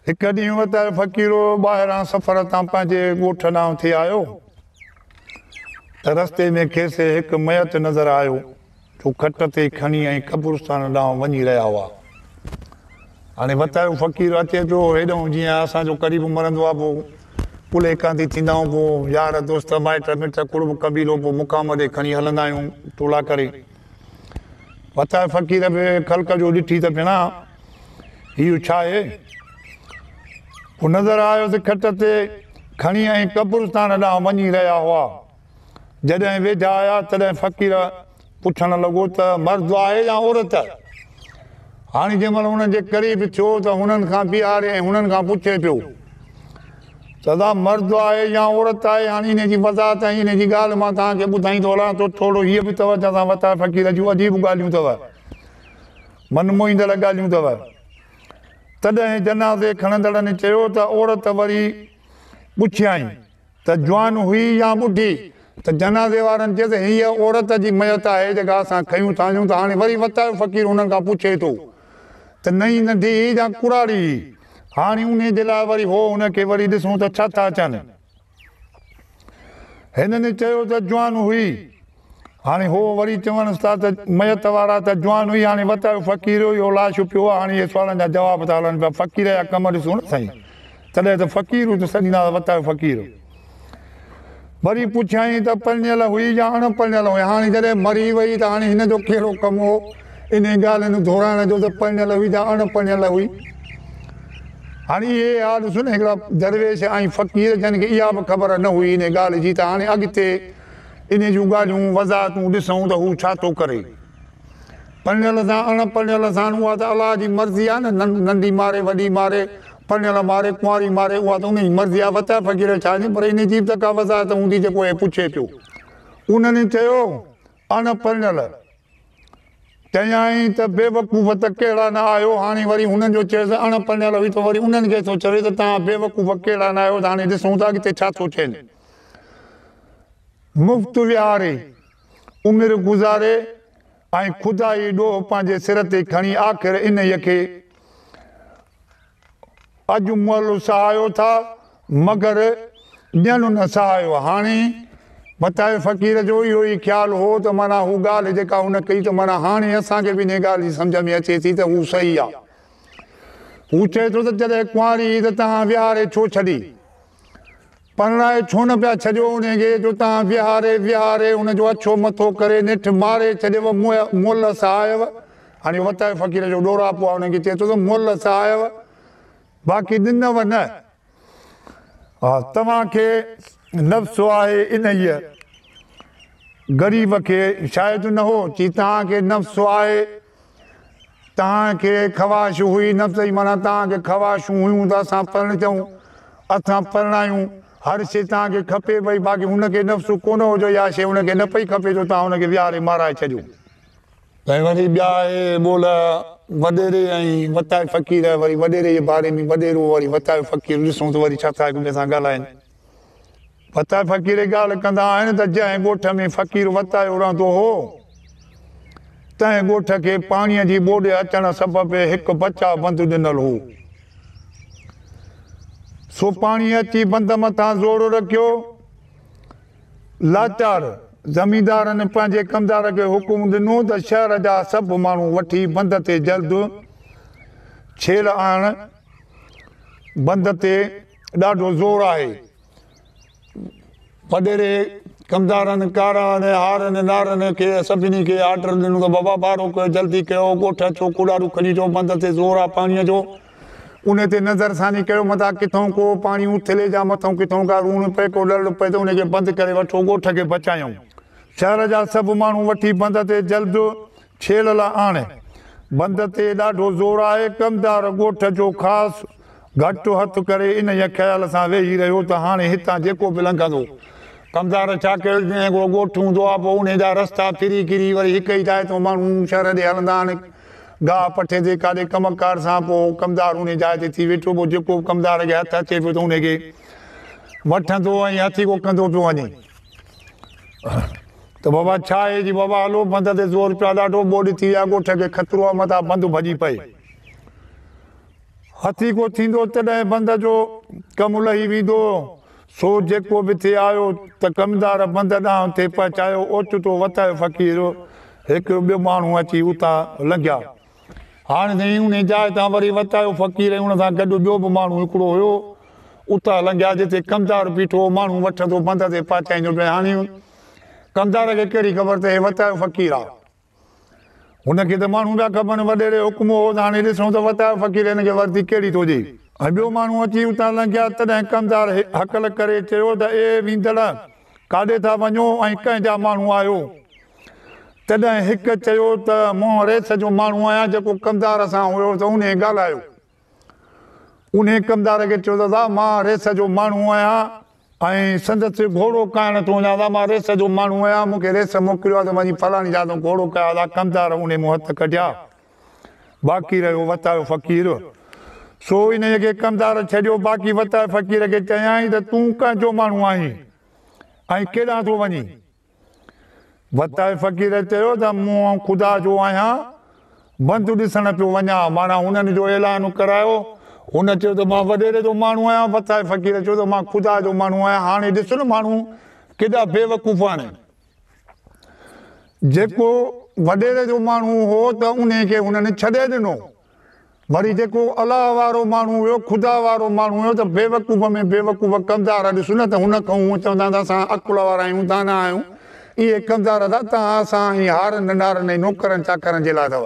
هڪ ڏينهن وتايو فقيرو ٻاهران سفر تان پنهنجي ڳوٺ ڏانهن ٿي آيو ته رستي ۾ کيس هڪ ميت نظر آيو جو کٽ تي کڻي ۽ قبرستان ڏانهن وڃي رهيا هئا. هاڻي وتايو فقير اچي ٿو هيڏانهن جيئن اسان جو قريب مرندو آ پو ڪلهي ڪانڌي ٿيندائون پو يار دوست مائٽ مٽ قرب قبيلو پو مقام ڏي کڻي هلندا آهيون ٽولا ڪري. وتايو فقير به خلق جو ڏٺي ته ڀيڻا اهو ڇا آهي؟ هو نظر آيو ته کٽ تي کڻي ۽ قبرستان ڏانهن وڃي رهيا هئا. جڏهن ويجها آيا تڏهن فقير پڇڻ لڳو ته مرد آهي يا عورت؟ هاڻي جنهن مهل انهن جي قريب ٿيو ته هنن کان بيهاري ۽ هنن کان پڇي پيو. سدا مرد آهي يا عورت آهي هاڻي انهي جي وضاحت ۽ انهي جي ڳالهه مان توهان کي ٻڌائيندو هلان ٿو ٿورڙو هيء به توجه سان وتايو فقير جون عجيب ڳالهيون اٿو من موهيندڙ ڳالهيون اٿو تڏهن جنازي کڻندڙن چيو ته عورت وري پڇيائين ته جوان هئي يا ٻڍي ته جنازي وارن چيس هيء عورت جي ميت آهي جيڪا اسان کنيون ٿا اچون ته هاڻي وري وتايو فقير انهن کان پڇي ٿو ته نه ئي ننڍي هئي يا ڪراڙي هئي. هاڻي انهي جي لاء وري هو هن کي وري ڏسون ته ڇا ٿا چون. هنن چيو ته جوان هئي. هاڻي هو وري چونس ٿا ته ميت وارا ته جوان هئي هاڻي وتايو فقير هو يو لاش پيو هو هاڻي اهي سوالن جا جواب ٿا هلن پيا فقير جا ڪم ڏسون نه سائين. تڏهن ته فقير هو ته سڏينداس وتايو فقير. وري پڇيائين ته پرڻيل هئي يا اڻ پرڻيل هئي؟ هاڻي جڏهن مري وئي ته هاڻي هن جو ڪهڙو ڪم هو انهي ڳالهه نون دهرائڻ جو ته پرڻيل هئي يا اڻ پرڻيل هئي؟ هاڻي اهي اها ڏسون هڪڙا درويش ۽ فقير جن کي اها به خبر نه هئي انهي ڳالهه جي ته هاڻي اڳتي انهي جون ڳالهيون وضاحتون ڏسون ته هو ڇا ٿو ڪري؟ پرڻيل سان اڻ پرڻيل سان اها ته الله جي مرضي آهي نه ننڍي ماري وڏي ماري پرڻيل ماري، ڪنواري ماري، اها ته ان جي مرضي آهي، وتايا فقير ڇا ڏين، پر ان جي به ته ڪا وضاحت هوندي جيڪو هي پڇي پيو. انهن چيو، اڻ پرڻيل. چيائين ته بيوقوف ته ڪهڙا نه آهيو، هاڻي وري هنن جو چيس اڻ پرڻيل هئي ته وري انهن کي ٿو چوي ته توهان بيوقوف ڪهڙا نه آهيو ته هاڻي ڏسون ٿا اڳتي ڇا ٿو ٿين. مفت وهاري، عمر گذاري ۽ خدائي ڏوهه پنهنجي سر تي کڻي آخر انهيء کي. اڄ مئل سهايو ٿا مگر ڄڻ نه سهايو هاڻي متائي فقير جو اهو ئي خيال هو ته معنيٰ هو ڳالهه جيڪا هن ڪئي ته معنيٰ هاڻي اسان کي به انهي ڳالهه جي سمجهه ۾ اچي ٿي ته هو صحيح آ هو چئي ٿو ته جڏهن ڪنواري هئي ته تنهان ويهاري ڇو ڇڏي پرڻائي ڇو نه پيا ڇڏيو انهي کي جو تان ويهاري ويهاري ان جو اڇو مٿو ڪري نٺ ماري ڇڏيو مولهه صاحيو هاڻي وتائي فقير جو ڏوراپو آهي انهن کي چئي ٿو ته مولهه صاحيو باقي ڏنو نه ها توهان کي نفس آهي انهيء غريب کي شايد نه هو چي توهان کي نفس آهي توهان کي خواهش هئي نه صحيح معنيٰ توهان کي خواهشون هيون ته اسان پرڻجون، اسان پرڻايون، هر شيء توهان کي کپي پئي باقي هن کي نفسو ڪونه هو جو اها شيء هن کي نه پئي کپي جو توهان هن کي ويهاري مارائي ڇڏيو. ۽ وري ٻيا اهي ٻول وڏيري ۽ وتائي فقير وري وڏيري جي باري ۾ وڏيرو وري وتائي فقير ڏسون ته وري ڇا ٿا هڪ ٻئي سان ڳالهائين وتائي فقيري ڳالهه ڪندا آهن ته جنهن ڳوٺ ۾ فقير وتايو رهندو هو، تنهن ڳوٺ کي پاڻيء جي ٻوڏ اچڻ سبب هڪ بچاء بند ڏنل هو، سو پاڻي اچي بند مٿان زور رکيو. لاچار زميندارن پنهنجي ڪمدار کي حڪم ڏنو ته شهر جا سڀ ماڻهو وٺي بند تي جلد ڇيڙ آڻ، بند تي ڏاڍو زور آهي. پڏيري ڪمدارن ڪاران هارن نارن کي سڀني کي آرڊر ڏنو ته بابا بارو ڪيو جلدي ڪيو ڳوٺ اچو ڪوڏارو کڻي اچو بند تي زور آ پاڻيء جو ان تي نظر ثاني ڪيو متان ڪٿئون ڪو پاڻي اٿلي جا مٿئون ڪٿئون ڪا روڻ پئي ڪو لڙڙ پئي ته ان کي بند ڪري وٺو ڳوٺ کي بچايون شهر جا سڀ ماڻهو وٺي بند تي جلد ڇيڙ لا آڻي. بند تي ڏاڍو زور آهي. ڪمدار ڳوٺ جو خاص گهٽ هٿ ڪري انهيء خيال سان ويهي رهيو ته هاڻي هتان جيڪو به لنگهندو. ڪمدار ڇا ڪيو جنهن هڪڙو ڳوٺ هوندو آهي پوء انهيء جا رستا ڦري ڪري وري هڪ ئي جاء تان ماڻهو شهر ڏي هلندا آهن. گاهه پٺي تي ڪاڏي ڪم ڪار سان پوء ڪمدار انهيء جاء تي ٿي ويٺو پوء جيڪو به ڪمدار کي هٿ اچي پيو ته انهيء کي وٺندو ۽ هٿي ڪو ڪندو پيو وڃي. ته بابا ڇا آهي جي بابا هلو بند تي زور پيا ڏاڍو ٻوڏ ٿي ويا ڳوٺ کي خطرو آهي متان بند ڀڄي پئي هٿي ڪو ٿيندو تڏهن بند جو ڪم لهي ويندو سو جيڪو به ٿي آيو ته ڪمدار بند ڏانهن ٿي پهچايو اوچتو وتايو فقير هڪ ٻيو ماڻهو اچي اتان لنگهيا هاڻ جئين انهي جاء تان وري وت آيو فقير ۽ ان سان گڏ ٻيو به ماڻهو هڪڙو هيو اتان لنگهيا جتي ڪمدار بيٺو هو ماڻهو وٺندو بند تي پهچائيندو پئي هاڻي ڪمدار کي ڪهڙي خبر ته هي وت آيو فقير آ هن کي ته ماڻهو پيا کپن وڏيري حڪم هو ته هاڻي ڏسون ته وت آيو فقير هن کي وردي ڪهڙي ٿو ڏي. ۽ ٻيو ماڻهو اچي اتان لنگهيا تڏهن ڪمدار هڪل ڪري چيو ته اي ويندڙ! ڪاڏي ٿا وڃو ۽ ڪنهن جا ماڻهو آهيو؟ تڏهن هڪ چيو ته مون ريٿ جو ماڻهو آهيان جيڪو ڪمدار سان هيو ته انهي ڳالهايو. انهي ڪمدار کي چيو ته ادا مان ريٿ جو ماڻهو آهيان ۽ سندس گهوڙو ڪائڻ ٿو وڃان ادا مان ريٿ جو ماڻهو آهيان مون کي ريٿ موڪليو آهي ته وڃي فلاڻي جاء تان گهوڙو ڪاء ادا ڪمدار انهي مون هٿ ڪڍيا. باقي رهيو وتايو فقير. سو انهيء کي ڪمدار ڇڏيو باقي وتايو فقير کي چيائين ته تون ڪنهن جو ماڻهو آهين ۽ ڪيڏانهن ٿو وڃين؟ وتايو فقير چيو ته مون خدا جو آهيان بند ڏسڻ پيو وڃان معنيٰ هنن جو اعلان ڪرايو. هن چيو ته مان وڏيري جو ماڻهو آهيان وتايو فقير چيو ته مان خدا جو ماڻهو آهيان هاڻي ڏس نه ماڻهو ڪيڏا بيوقوف آهن. جيڪو وڏيري جو ماڻهو هو ته انهي کي هنن ڇڏي ڏنو. وري جيڪو الله وارو ماڻهو هيو، خدا وارو ماڻهو هيو ته بيوقوف ۾ بيوقوف ڪمدار ڏس نه ته هن کان هو چوندا ته اسان عقل وارا آهيون، دانا آهيون. اهي ڪمدار ادا توهان اسان ۽ هارن، نارن ۽ نوڪرن چاڪرن جي لاء اٿو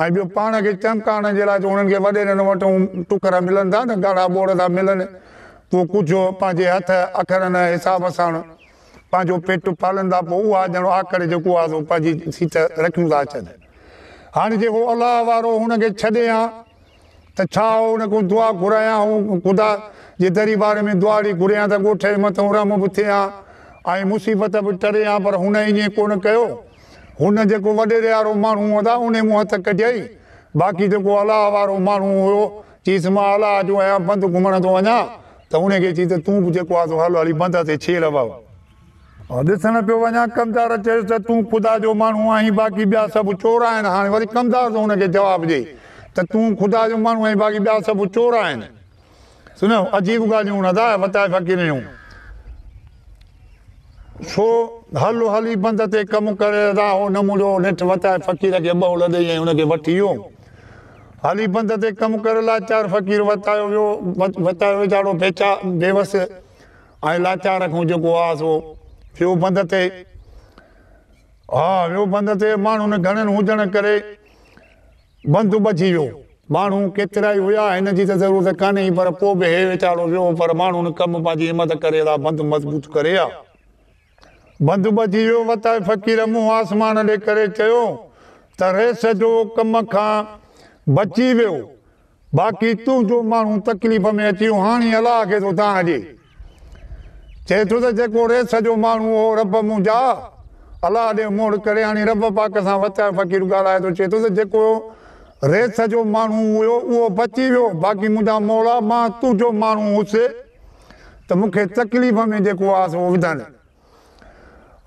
۽ ٻيو پاڻ کي چمڪائڻ جي لاء جو انهن کي وڏيرن وٽون ٽڪر ملن ٿا نه ڳاڙها ٻوڙ ٿا ملن. پوء ڪجهه پنهنجي هٿ اکرن حساب سان پنهنجو پيٽ پالن ٿا پوء اها ڄڻ آڪڙ جيڪو آهي سو پنهنجي سيٽ رکيون ٿا اچن. هاڻي جيڪو الله وارو هن کي ڇڏي ها ته ڇا آئون ان کان دعا گهريان هو خدا جي دريبار ۾ دعا اڙي گهريان ته ڳوٺ جي مٿان رحم به ٿئي ها ۽ مصيبت به ٽري ها پر هن ائين ڪونه ڪيو هن جيڪو وڏيري وارو ماڻهو هو ته ان مون هٿ ڪڍيائين باقي جيڪو الله وارو ماڻهو هيو چيس مان الله جو آهيان بند گهمڻ ٿو وڃان ته ان کي چئي ته تون به جيڪو آهي سو هل هلي بندر تي ڇير هوا هو ۽ ڏسڻ پيو وڃان ڪمدار چيس ته تون خدا جو ماڻهو آهين باقي ٻيا سڀ چور آهن هاڻي وري ڪمدار ٿو ان کي جواب ڏئي ته تون خدا جو ماڻهو آهين باقي ٻيا سڀ چور آهن سنو عجيب ڳالهيون ادا وتاء فقيرن جون سو هل هلي بند تي ڪم ڪري ادا هو نمولو نيٺ وتاء فقير کي ٻهو لڏي ۽ ان کي وٺي ويو هالي پنڌ تي ڪم ڪرڻ لاچار فقير وتايو ويو، وتايو ويجاڙو بيچا، بيوس ۽ لاچار کان جيڪو آس هو، ويو پنڌ تي. ها، ويو پنڌ تي، ماڻهن گهڻن هجڻ ڪري پنڌ ٻڌي ويو. ماڻهو ڪيترائي هيا، هن جي ته ضرورت ڪانهي ئي، پر پوء به هي ويچاڙو ويو، پر ماڻهن ڪم پنهنجي همت ڪري لا پنڌ مضبوط ڪري ها. بند بجي ويو وتائي فقير منهن آسمان ڏي ڪري چيو ته ريس جو ڪم کان بچي ويو باقي تنهنجو ماڻهو تڪليف ۾ اچي ويو هاڻي الله کي ٿو دانهن ڏي چئي ٿو ته جيڪو ريس جو ماڻهو هو رب منهنجا الله ڏي موڙ ڪري هاڻي رب پاڪ سان وتائي فقير ڳالهائي ٿو چئي ٿو ته جيڪو ريس جو ماڻهو هيو اهو بچي ويو باقي منهنجا مولا مان تنهنجو ماڻهو هوس ته مون کي تڪليف ۾ جيڪو آ سو وڌڻ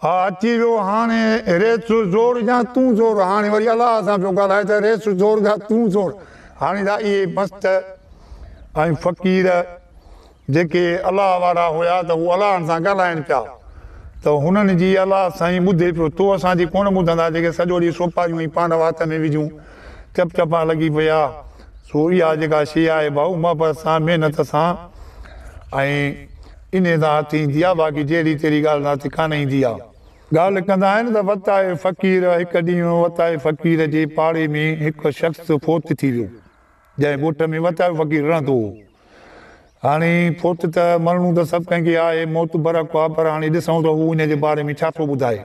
آ اچي ويو هاڻي ريس زور جا تون زور هاڻي وري الله سان پيو ڳالهائي ته ريس زور جا تون زور هاڻي ته اهي مست ۽ فقير جيڪي الله وارا هيا ته هو الله سان ڳالهائين پيا ته هنن جي الله سائين ٻڌي پيو تو اسان جي ڪونه ٻڌندا جيڪي سڄو ڏينهن سوپاريون ۽ پانڊو هٿ ۾ وجهون چپ چپا لڳي پيا، سو اها جيڪا شيء آهي ڀائو محبت سان، محنت سان ۽ انهيء سان هٿ ايندي آهي، باقي جهڙي تهڙي ڳالهه سان هٿ ڪانه ايندي آهي. ڳالهه ڪندا آهن ته وتائي فقير، هڪ ڏينهن وتائي فقير جي پاڙي ۾ هڪ شخص فوت ٿي ويو، جنهن ڳوٺ ۾ وتائو فقير رهندو هو. هاڻي فوت ته مرڻو ته سڀ ڪنهن کي آهي، موت برحق آهي، پر هاڻي ڏسون ته هو ان جي باري ۾ ڇا ٿو ٻڌائي.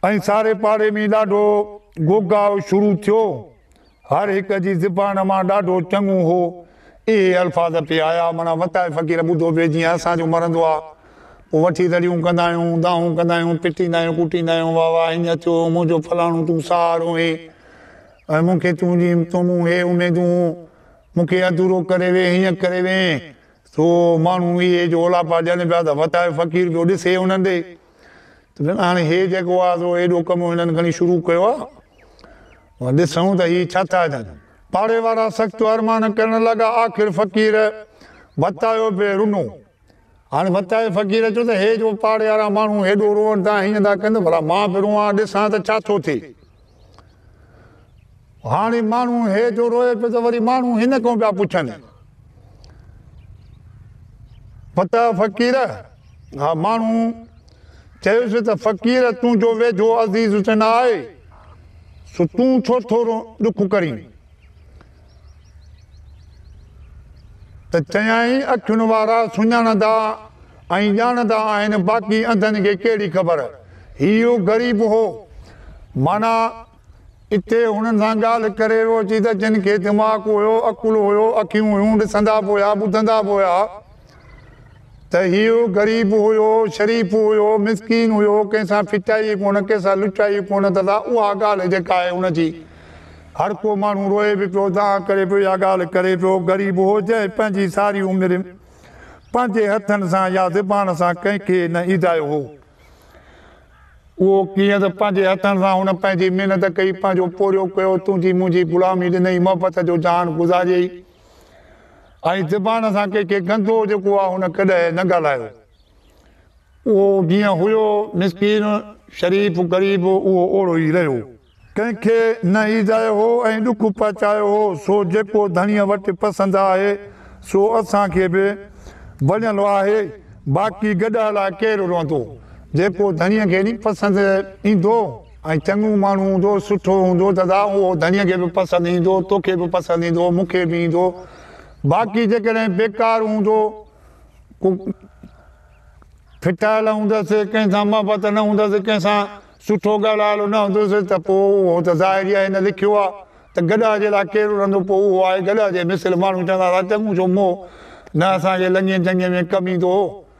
ائين ساري پاڙي ۾ ڏاڍو گوگاء شروع ٿيو. هر هڪ جي زبان مان ڏاڍو چڱو هو اهي الفاظ پئي آيا، معنيٰ وتائي فقير ٻڌو پئي جيئن اسان جو مرندو آ، پوء وٺي رڙيون ڪندا آهيون، دانهون ڪندا آهيون، پٽيندا آهيون، ڪوٽيندا آهيون، واهه واهه هينئن ٿيو، منهنجو فلاڻو تون سهارو هين ۽ مون کي تنهنجي تو مون هي اميدون، مون کي اڌورو ڪري وين، هينئن ڪري وين، سو ماڻهو اهي جو اولاپا ڏين پيا ته وتائي فقير پيو ڏسي انهن ڏي. ته هاڻي هي جيڪو آهي سو ايڏو ڪم هنن کڻي شروع ڪيو آهي. هو ڏسون ته هي ڇا ٿا ڪن. پاڙي وارا سخت ارمان ڪرڻ لڳا. آخر فقير وتايو به رنو. هاڻي وتايي فقير چيو ته هي جو پاڙي وارا ماڻهو هيڏو روئن ٿا هيئن ٿا ڪن ته ڀلا مان به روئان ڏسان ته ڇا ٿو ٿئي. هاڻي ماڻهو هي جو روئي پيو ته وري ماڻهو هن کان پيا پڇن پتہ فقير ها ماڻهو چيس ته فقير تون جو ويجهو عزيز تي نه آهي سو تون ڇو ٿورو ڏک ڪرين ته چيائين، اکين وارا سڃاڻندا ۽ ڄاڻندا آهن، باقي انڌن کي ڪهڙي خبر. هي اهو غريب هو، معنيٰ اتي هنن سان ڳالهه ڪري رهيو اچي ته جن کي دماغ هيو، عقل هيو، اکيون هيون، ڏسندا به هيا، ٻڌندا به هيا. ته هيء غريب هيو، شريف هيو، مسڪين هيو، ڪنهن سان ڦٽائي ئي ڪونه، ڪنهن سان لٽائي ئي ڪونه ته سا اها ڳالهه جيڪا آهي ان جي هر ڪو ماڻهو روئي به پيو، دانهن ڪري پيو، اها ڳالهه ڪري پيو، غريب هو جنهن پنهنجي ساري عمر پنهنجي هٿن سان يا زبان سان ڪنهن کي نه ايڌايو هو. اهو ڪيئن ته پنهنجي هٿن سان هن پنهنجي محنت ڪئي، پنهنجو پورهيو ڪيو، تنهنجي منهنجي غلامي ڏنئي، محبت جو جهان گذاريئي. ۽ زبان سان ڪي ڪي گندو جيڪو آ هن ڪڏهن نه ڳالهايو اهو جيئن هيو مسڪين شريف غريب اهو اوڙو ئي رهيو. ڪنهن کي نه ايذايو هو ۽ ڏک پهچايو هو سو جيڪو ڌڻيء وٽ پسند آهي سو اسان کي به وڃل آهي باقي گڏهه لاء ڪير روئندو جيڪو ڌڻيء کي ني پسند ايندو. ۽ چڱو ماڻهو هوندو، سٺو هوندو ته ذا اهو ڌڻيء کي به پسند ايندو، توکي به پسند ايندو، مون کي به ايندو، باقي جيڪڏهن بيڪار هوندو، ڪو ڦٽايل هوندس، ڪنهن سان محبت نه هوندس، ڪنهن سان سٺو ڳالهايل نه هوندس ته پوء اهو ته ظاهر ئي آهي هن لکيو آهي ته گڏهه جي لاء ڪير رڙندو پوء اهو آهي گڏهه جي مثل ماڻهو چوندا ٿا چڱو ڇو مئو نه اسان کي لڱي جنگي ۾ ڪم ايندو هو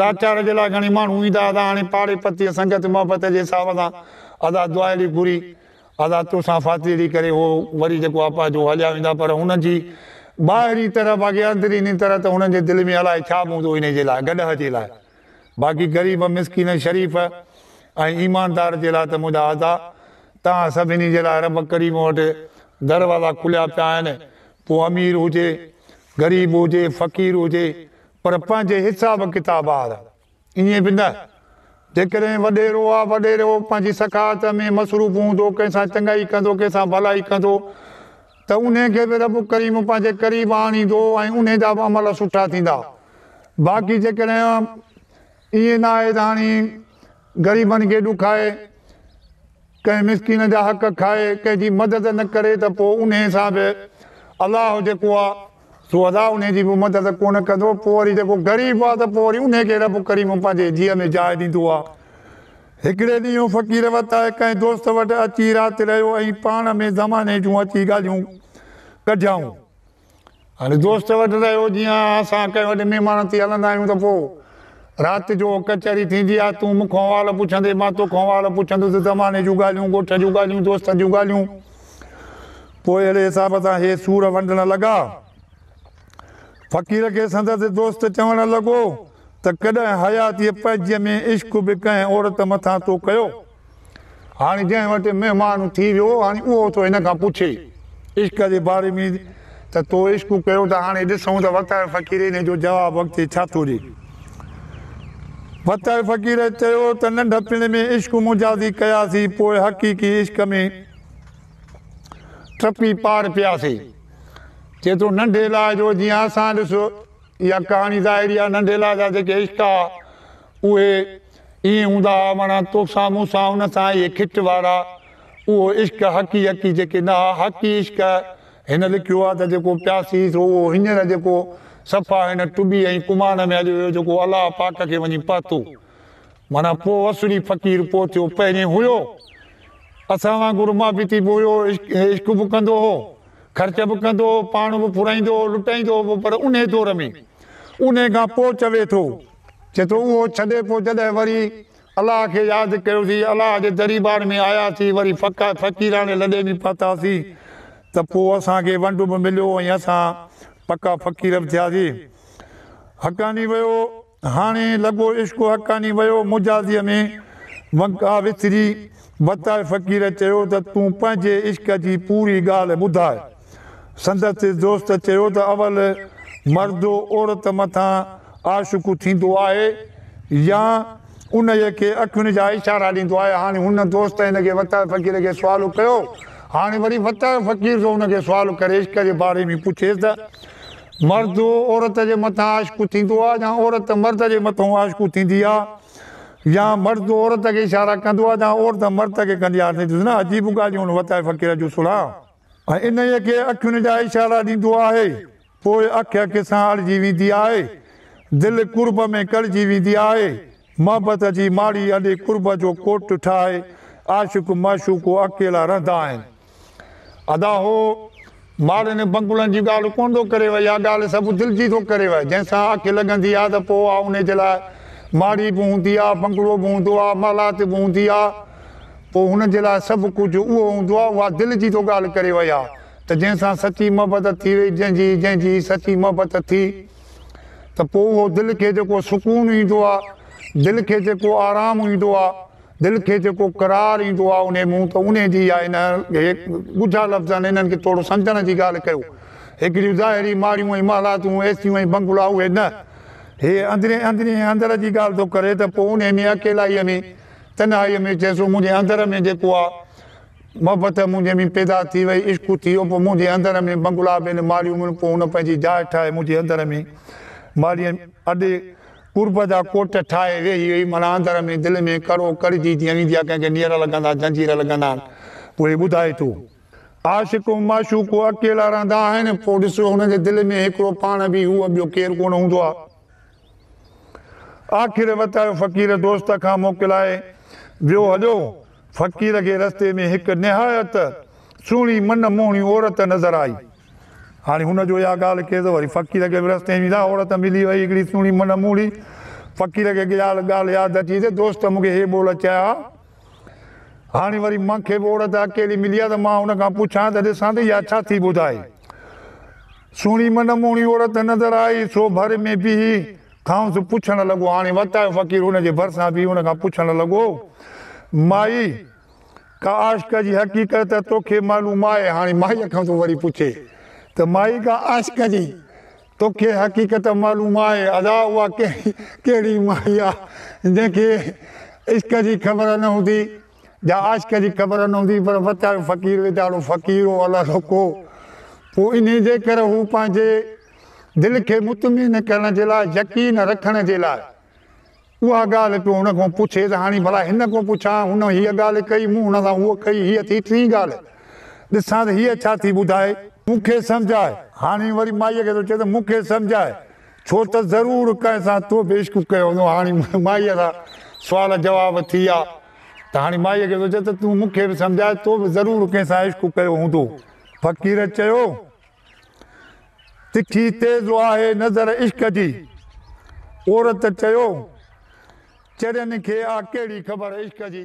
لاچار جي لاء گهڻي ماڻهو ايندا ادا هاڻي پاڙي پتي سنگت محبت جي حساب سان ادا دعا اهڙي گهري ادا توسان فاتي اهڙي ڪري هو وري جيڪو آپا جو هليا ويندا پر هنن جي ٻاهرين طرح باقي اندريني طرح ته هنن جي دل ۾ الائي ڇا به هوندو انهي جي لاء گڏهه جي لاء باقي غريب مسڪين شريف ۽ ايماندار جي لاء ته منهنجا ادا توهان سڀني جي لاء رب ڪريم وٽ دروازا کليا پيا آهن پوء امير هجي غريب هجي فقير هجي پر پنهنجي حساب ڪتاب آڙ ائين به نه. جيڪڏهن وڏيرو يا وڏيرو پنهنجي سخاوت ۾ مصروف هوندو، ڪنهن سان چڱائي ڪندو، ڪنهن سان ڀلائي ڪندو ته انهي کي به رب ڪريم پنهنجي قريب آڻيندو ۽ انهي جا به عمل سٺا ٿيندا. باقي جيڪڏهن ائين نه آهي ته هاڻي. غريبن کي ڏکائي، ڪنهن مسڪين جا حق کائي، ڪنهن جي مدد نه ڪري ته پوء انهي سان به الله جيڪو آ سو ادا انهي جي به مدد ڪونه ڪندو، پوء وري جيڪو غريب آ ته پوء وري انهي کي رب ڪريم پنهنجي جيء ۾ جاء ڏيندو آ. هڪڙي ڏينهن هو فقير وت آهي ڪنهن دوست وٽ اچي رات رهيو ۽ پاڻ ۾ زماني جون اچي ڳالهيون ڪڍيائون. هل دوست وٽ رهيو جيئان اسان ڪنهن وڏي مهمان ٿي هلندا آهيون ته پوء رات جو ڪچهري ٿيندي آهي، تون مون کان احوال پڇندين، مان تو کان احوال پڇندس، زماني جون ڳالهيون، ڳوٺ جون ڳالهيون، دوستن جون ڳالهيون. پوء اهڙي حساب سان هي سور ونڊڻ لڳا. فقير کي سندس دوست چوڻ لڳو ته ڪڏهن حياتيء پنهنجيء ۾ عشق به ڪنهن عورت مٿان تو ڪيو؟ هاڻي جنهن وٽ مهمان ٿي ويو هاڻي اهو ٿو هن کان پڇي عشق جي باري ۾ ته تو عشق ڪيو ته هاڻي ڏسون ته وتائي فقير هن جو جواب اڳتي ڇا ٿو ڏي. وتائي فقير چيو ته ننڍپڻ ۾ عشق مجازي ڪياسين پوء حقيقي عشق ۾ ٽپي پار پياسين. چي ٿو ننڍي لاء جو جيئن اسان ڏس اها ڪهاڻي ظاهري آهي ننڍي لاء جا جيڪي عشق آ اهي ائين هوندا ها وڻ تو سان مون سان ان سان اهي کٽ وارا اهو عشق حقي حقي جيڪي نه ها حقي عشق هن لکيو آهي ته جيڪو پياسي سو اهو هينئر جيڪو صفا هن ٽٻي ۽ ڪماڻ ۾ اڄ ويو جيڪو الله پاڪ کي وڃي پهتو معنيٰ پوء وسڙي فقير پوء ٿيو پهرين هيو اسان وانگر مابيتي به هيو عشق به ڪندو هو خرچ به ڪندو هو پاڻ به ڦرائيندو هو لٽائيندو هو پر انهي دور ۾ انهي کان پوء چوي ٿو چي ٿو اهو ڇڏي پوء جڏهن وري الله کي ياد ڪيوسين، الله جي دريبار ۾ آياسين، وري فقه فقيراڻي لڏي به پاتاسين ته پوء اسان کي ونڊ به مليو ۽ اسان پڪا فقير به ٿياسين. حقاني ويو هاڻي لڳو عشق حقاني ويو مجازيء ۾ ونڪا وسري وتائي فقير چيو ته تون پنهنجي عشق جي پوري ڳالهه ٻڌاء. سندس دوست چيو ته اول مرد عورت مٿان عاشق ٿيندو آهي يا انهيء کي اکين جا اشارا ڏيندو آهي. هاڻي هن دوست هن کي وتايو فقير کي سوال ڪيو. هاڻي وري وتايو فقير ٿو هن کي سوال ڪري عشق جي باري ۾ پڇيس ته مرد عورت جي مٿان عاشق ٿيندو آهي يا عورت مرد جي مٿان عاشق ٿيندي آهي يا مرد عورت کي اشارا ڪندو آهي يا عورت مرد کي ڪندي آهي. ڏسو نه عجيب ڳالهيون هن وتايو فقير جون سڻا. ۽ انهيء کي اکين جا اشارا ڏيندو آهي، پوء اک اک سان اڙجي ويندي آهي، دل قرب ۾ ڪڙجي ويندي آهي، محبت جي ماڙي اڏي قرب جو ڪوٽ ٺاهي عاشق معشوق اڪيلا رهندا آهن. ادا هو ماڙين بنگلن جي ڳالهه ڪونه ٿو ڪريو، اها ڳالهه سڀ دل جي ٿو ڪريو، جنهن سان اک لڳندي آهي ته پوء اها انهيء جي لاء ماڙي به هوندي آهي، بنگلو به هوندو آهي، محلات به هوندي آهي. پوء هن جي لاء سڀ ڪجهه اهو هوندو آهي، اها دل جي تو ڳالهه ڪري وئي آهي ته جنهن سان سچي محبت ٿي وئي، جنهن جي، جنهن جي سچي محبت ٿي ته پوء اهو دل کي جيڪو سڪون ايندو آهي، دل کي جيڪو آرام ايندو آهي، دل کي جيڪو قرار ايندو آهي انهي مون ته انهي جي اها هن کي ڳجها لفظن انهن کي ٿورو سمجهڻ جي ڳالهه ڪيو. هڪڙيون ظاهري ماڙيون ۽ محلاتون، ايسيون ۽ بنگلا اهي نه. هي اندرين اندرين ۽ اندر جي ڳالهه ٿو ڪري ته پوء انهي ۾ اڪيلائيء ۾، تنهائيء ۾ چيس، او منهنجي اندر ۾ جيڪو آ، محبت منهنجي ۾ پيدا ٿي وئي، عشق اٿي ويو، پوء منهنجي اندر ۾ بنگلا به نه ماليون مون، پوء هن پنهنجي جاء ٺاهي منهنجي اندر ۾ مالي اڏي قرب جا ڪوٽ ٺاهي ويهي وئي، معنيٰ اندر ۾ دل ۾ ڪڙو ڪڙجي جيئن ويندي آ، ڪنهن کي نير لڳندا، زنجير لڳندا آهن، اهي ٻڌائي ٿو. عاشق ۽ معشوق اڪيلا رهندا آهن، پوء ڏسو هنن جي دل ۾ هڪڙو پاڻ به هو ٻيو ڪير ڪونه هوندو آ. آخر وتايو فقير دوست کان موڪلائي ويو هليو. فقير کي رستي ۾ هڪ نهايت سهڻي من موهڻي عورت نظر آئي. هاڻي هن جو اها ڳالهه ڪير ته وري فقير کي به رستي ۾ اها عورت ملي وئي هڪڙي سهڻي من موهڻي. فقير کي ڳالهه ياد اچي ته دوست مون کي هي ٻول چيا ها. هاڻي وري مان کي به عورت اڪيلي ملي آهي ته مان ان کان پڇان ته ڏسان ته اها ڇا ٿي ٻڌائي. سهڻي منموهڻي عورت نظر آئي سو ڀر ۾ بيهي کانئس پڇڻ لڳو. هاڻي وتايو فقير ان جي ڀرسان بيهي ان کان پڇڻ لڳو، مائي! ڪا عاشق جي حقيقت ته توکي معلوم آهي. هاڻي مائيء کانئس وري پڇي ته مائي ڪا عاشق جي توکي حقيقت معلوم آهي ادا اها ڪهڙي مائي آ جنهن کي عشق جي خبر نه هوندي جا عاشق جي خبر نه هوندي پر وتايو فقير ويچارو فقير هو الله سوکو پوء انهي جي ڪري هو پنهنجي دل کي مطمئن ڪرڻ جي لاء يقين رکڻ جي لاء اها ڳالهه پيو هن کان پڇي ته هاڻي ڀلا هن کان پڇان، هن هيء ڳالهه ڪئي، مون هن سان هوء ڪئي، هيء ٿي ٽين ڳالهه، ڏسان ته هيء ڇا ٿي ٻڌائي. مون کي سمجهاء. هاڻي وري مائيء کي ٿو چئي ته مون کي سمجهاء، ڇو ته ضرور ڪنهن سان تو به عشق ڪيو هوندو. هاڻي مائيء سان سوال جواب ٿي ويا ته هاڻي مائيء کي ٿو چئي ته تون مون کي به سمجهاء، تو به ضرور ڪنهن سان عشق ڪيو هوندو. فقير چيو تکي تيز آهي نظر عشق جي. عورت چيو، چرين کي آ ڪهڙي خبر عشق جي.